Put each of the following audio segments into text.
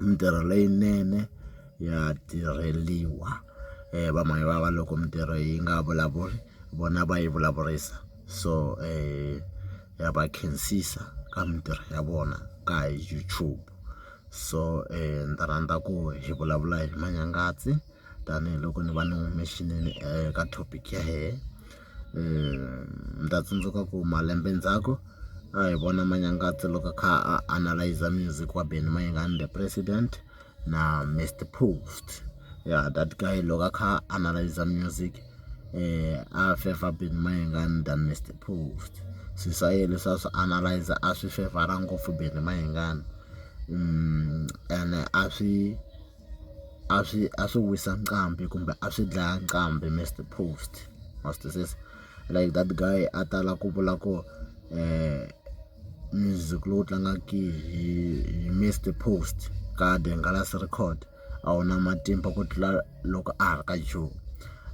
mintirho leyinene ya tirheliwa va mhani va va loko mintirho yi nga vulavuli vona va yi vulavurisa so ya va khensisa ka mintirho ya vona ka YouTube so ni ta rhandza ku hi vulavula hi manyangazi tanihiloko ni va ni humesile eka topic ya hina. Ni ta tsundzuka ku malembe ndzhaku a hi vona Manyangato loko a kha a analyser music wa Benny Mayengani the president na Mister Prost ya that guy loko a kha a analyser music a fevha Benny Mayengani than Mister Prost swilo swa yena leswi a swi analyser a swi fevhara ngopfu Benny Mayengani ene a swi. a swi a swi wisa nqambi kumbe a swi dlaya nqambi Mister Post wa swi twisisa like that guy a tala ku vula ku music lowu tlangaka hi Mister Post ka The Nghalazi record a wu na matimba ku tlula loko a ha ri ka Joe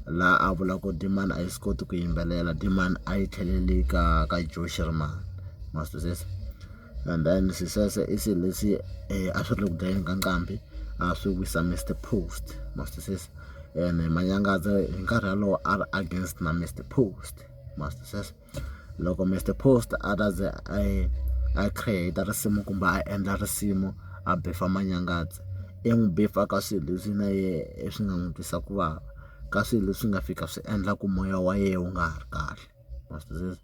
laha a vula ku demand a yi swi koti ku yimbelela demand a yi tlhelele ka ka Joe Shirimani ma swi twisisa. and then sisese i swilo leswi um a swi ri le ku dlayeni ka nqambi a swi wisa Mister Post ma swi twisisa ene Manyangaza hi nkarhi wolowo a ri against na Mister Post ma swi twisisa loko Mister Post a ta ze a yi a create risimu kumbe a endla risimu a beefer Manyangaza i n'wi beefer ka swilo leswi na yena swi nga n'wi twisa ku vava ka swilo leswi nga fika swi endla ku moya wa yena wu nga ha ri kahle. na swi twisisa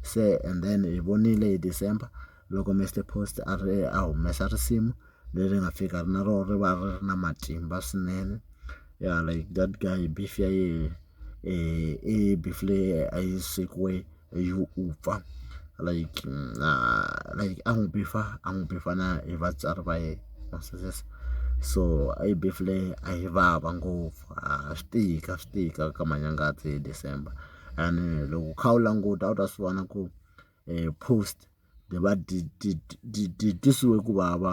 se and then hi vonile hi December loko Mister Post a ri a humesa risimu leri nga fika na rona ri va ri ri na matimba swinene ya like that guy beef ya yena i beef leyi a yi swekiwe hi vupfa like na like a n'wi beef-a a n'wi beef-a na hi vatswari va yena ma swi twisisa so a yi beef leyi a yi vava ngopfu ha swi tika swi tika ka manyangato hi December. and loko u kha u languta a wu ta swi vona ku post dyi va dyi dyi dyi dyi twisiwe ku vava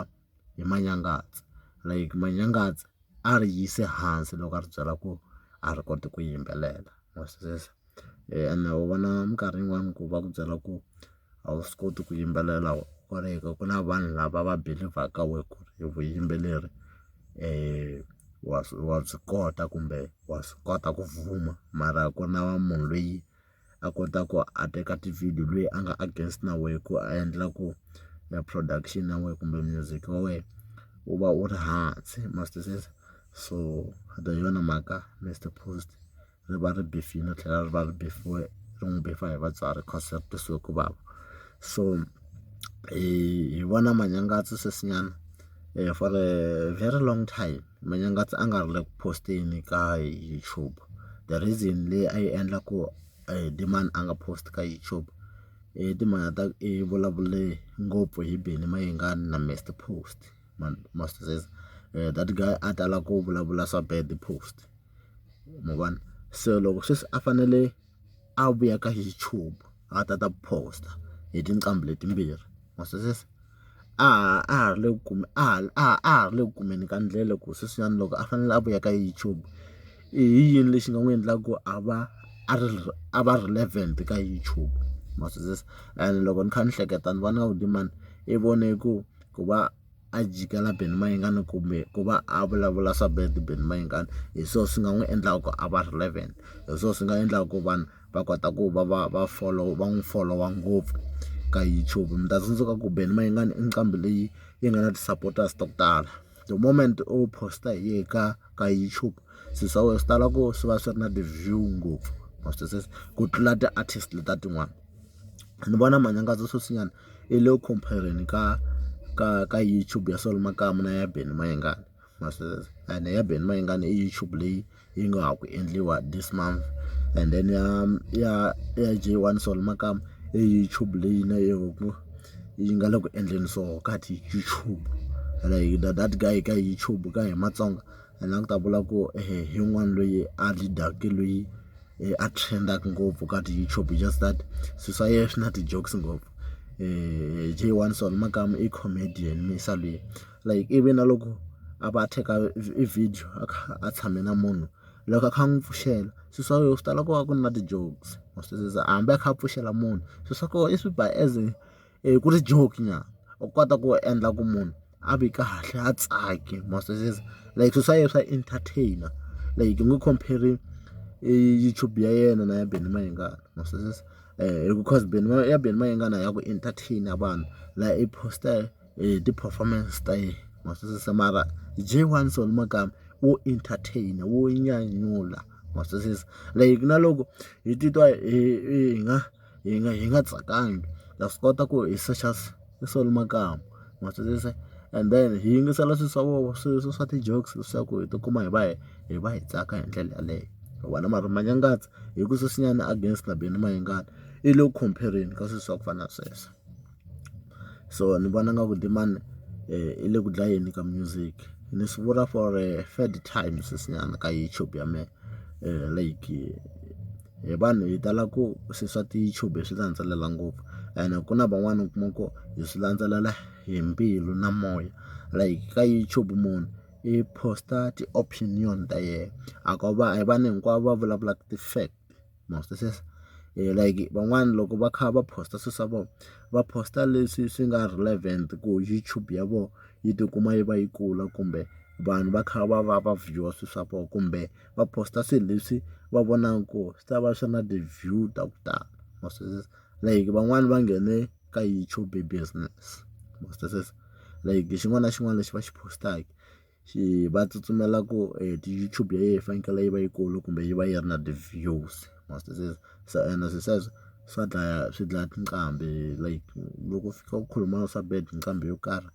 hi manyangatsa like manyangatsa a ri yise hansi loko a ri byela ku a ri koti ku yimbelela wa swi twisisa ene u vona minkarhi yin'wani ku va ku byela ku. a wu swi koti ku yimbelela hikwalaho ku na vanhu lava va believ-aka wena ku ri vuyimbeleri wa wa byi kota kumbe wa swi kota ku fuma mara ku ri na munhu loyi a kotaka a teka tivhidiyo loyi a nga against na wena ku a endla ku e production ya wena kumbe music wa wena wu va wu ri hansi ma swi twisisa so hi yona mhaka Mister Post. ri va ri befile ri tlhela ri va ri befiwe ri n'wi befiwa hi vatswari cause ri twisiwe ku vava so hi vona manyangatsa sweswinyana for a very long time manyangatsa a nga ri le ku post-eni ka YouTube the reason leyi a yi endla ku Dlemmani a nga post ka YouTube i timhaka ta i vulavule ngopfu hi Benny Mayengani na Mister Post. Master Cez that guy a tala ku vulavula swa bad post ma vona se loko sweswi a fanele a vuya ka YouTube a ta ta post-a hi tinqambi letimbirhi Master Cez a ha ri le ku a ha a ha ri le ku kumeni ka ndlela ku sweswiwani loko a fanele a vuya ka YouTube i yini lexi nga n'wi endlaka ku a va a ri a va relevant ka YouTube Master Cez and loko ni kha ni hleketa ni vona onge mani i vone ku. ku va a jikela Benny Mayengani kumbe ku va a vulavula swa Benny Mayengani hi swona swi nga n'wi endlaka ku a va relevant hi swona swi nga endlaka ku vanhu va kota ku va va va follow va n'wi folowa ngopfu ka YouTube mi ta tsundzuka ku Benny Mayengani i nqambi leyi yi nga na ti-supporters ta ku tala the moment u post-a hi yena ka ka YouTube swilo swa wena swi tala ku swi va swi ri na ti-view ngopfu ma swi twisisa ku tlula ti-artist letiya tin'wana ni vona manyangadzo sweswinyana. I lo compare-reni ka ka ka YouTube ya Solo Makamu na ya Benny Mayengani ma swi vona ene ya Benny Mayengani i YouTube leyi yi nga ha ku endliwa this month and then ya ya ya J one Solo Makamu i YouTube leyi na yona yi nga le ku endleni so ka ti YouTube ene that guy ka YouTube ka hina Matsonga. Ene a ni ta vula ku hi un'wana loyi a lead-aka loyi a trend-aka ngopfu ka ti-YouTube it's just that swilo swa yena swi na ti-jokes ngopfu Jay one so nakambe i comedian musa loyi like ivi na loko a va a teka i video a kha a tshame na munhu loko a kha a n'wi pfuxela swilo swa wena swi tala ku va ku ri na ti-jokes wa swi twisisa hambi a kha a pfuxela munhu swilo swa kona i swi ba as. ku ri joke nyana u kota ku endla ku munhu a vi kahle a tsake ma swi twisisa like swilo swa yena swa entertain like u nge compare YouTube ya yena na ya Benny Mayengani ma swi twisisa because Benny ya Benny Mayengani ya ku entertain vanhu la i post ti-performance ta yena ma swi twisisa mara J1 Soul Makamba wo entertain wo nyanyula ma swi twisisa like na loko hi titwa hi nga. hi nga hi nga tsakangi ha swi kota ku hi secha solo makamba ma swi twisisa and then hi yingisela swilo swa vona swilo swa swa ti-jokes leswaku hi tikuma hi va hi hi va hi tsaka hi ndlela yaleyo hikuva na mara manyangaza hi ku sweswinyana against na Benny Mayengani i le ku compare-reni ka swilo swa ku fana na sweswo. so ni vona nga ku demand yi le ku dlayeni ka music ni swi vula for a third time sweswinyana ka YouTube ya mehe like hi vanhu hi tala ku se swa ti-YouTube hi swi landzelela ngopfu ene ku na van'wani u kuma ku hi swi landzelela hi mbilu na moya like ka YouTube munhu i post-a ti-opinion ta yena a ko va a hi vanhu hinkwavo va vulavulaka ti-fact. post-a sweswo like van'wana loko va kha va post-a swilo swa vona va post-a leswi swi nga relevant ku YouTube ya vona yi tikuma yi va yi kula kumbe vanhu va kha va va va view-a swilo swa vona kumbe va post-a swilo leswi va vonaka ku swi ta va swi ri na ti-view ta ku tala ma swi twisisa like van'wani va nghene ka YouTube business ma swi twisisa like xin'wana na xin'wana lexi va xi post-aka. Xi va tsutsumela ku ti-YouTube ya yena yi fanekele yi va yikulu kumbe yi va yi ri na ti-views must se se ene swilo sweswo swa dlaya swi dlaya tinqambi like loko u fika u khuluma swa bad hi nqambi yo karhi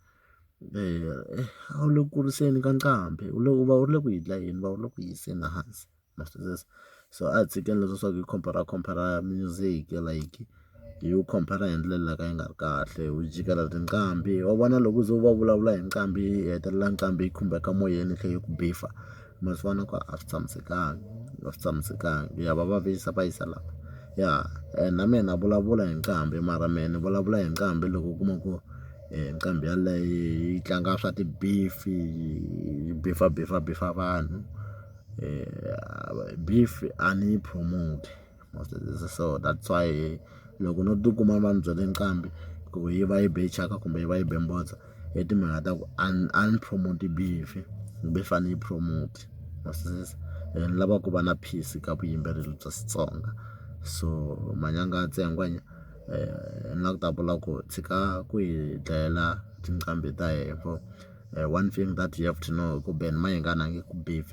a wu le ku kuriseni ka nqambi u le u va u ri le ku yi dlayeni u va u ri le ku yi yiseni hansi. ma swi twisisa so a hi tshikeni leswa swa ku hi compare compare music like hi wu compare hi ndlela leyi ka yi nga ri kahle hi wu jikela tinqambi wa vona loko u ze u va vulavula hi nqambi yi hetelela nqambi yi khumbeka moyeni yi tlhela yi ku beffa ma swi vona ku a swi tshamisekanga a swi tshamisekanga ya va vavisa va yisa laha ya na mehe na vulavula hi nqambi mara mehe ni vulavula hi nqambi loko u kuma ku nqambi yaleyo yi tlanga swa ti-beef yi beffa beffa beffa vanhu. beef a ni yi promote so that's why loko no tikuma va ndzi byele nqambi ku yi va yi be thyaka kumbe yi va yi be mbodza i timhaka ta ku a ni a ni promote beef beef a ni yi promote ma swi twisisa and ni lava ku va na peace ka vuyimbeleri bya Xitsonga so manyanga ya ntsengwa njhe ni lava ku ta vula ku tshika ku hi dlayela tinqambi ta hina. one thing that you have to know hi ku Ben Mayengani a nge ku beef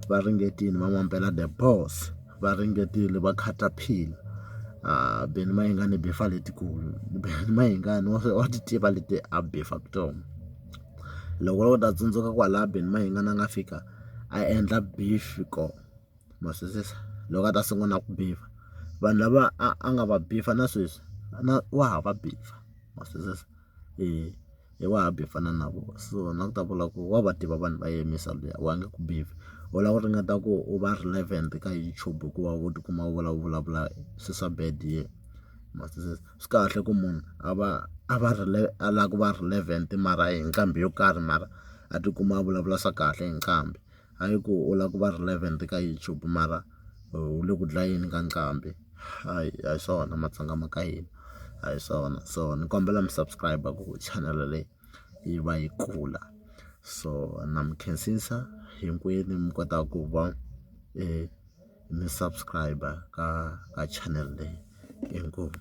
va ringetile va n'wi ambela the boss va ringetile va caterpillar a Ben Mayengani i beef-a letikulu Ben Mayengani wa wa ti tiva leti a beef-a tona loko wo ta tsundzuka kwalaho Ben Mayengani a nga fika a endla beef kona ma swi twisisa loko a ta sungula ku beef-a vanhu lava a a nga va beef-a na sweswi na wa ha va beef-a ma swi twisisa. i wa happy ku fana na vona so na ku ta vula ku wa va tiva vanhu va yimisa luya wa nge ku biwi u lava ku ringeta ku u va relevant ka YouTube hikuva u tikuma u vula u vulavula swilo swa bad hi yena ma swi tiva swi kahle ku munhu a va a va a lava ku va relevant mara hi nqambi yo karhi mara a tikuma a vulavula swa kahle hi nqambi. Hayi ku u lava ku va relevant ka YouTube mara u le ku dlayeni ka nqambi hayi a hi swona matsonga ma ka hina a hi swona so ni kombela mi subscribe ku chanel leyi yi va yi kula so na mi khensisa hinkwenu mi kota ku va mi subscribe ka ka chanel leyi inkomu.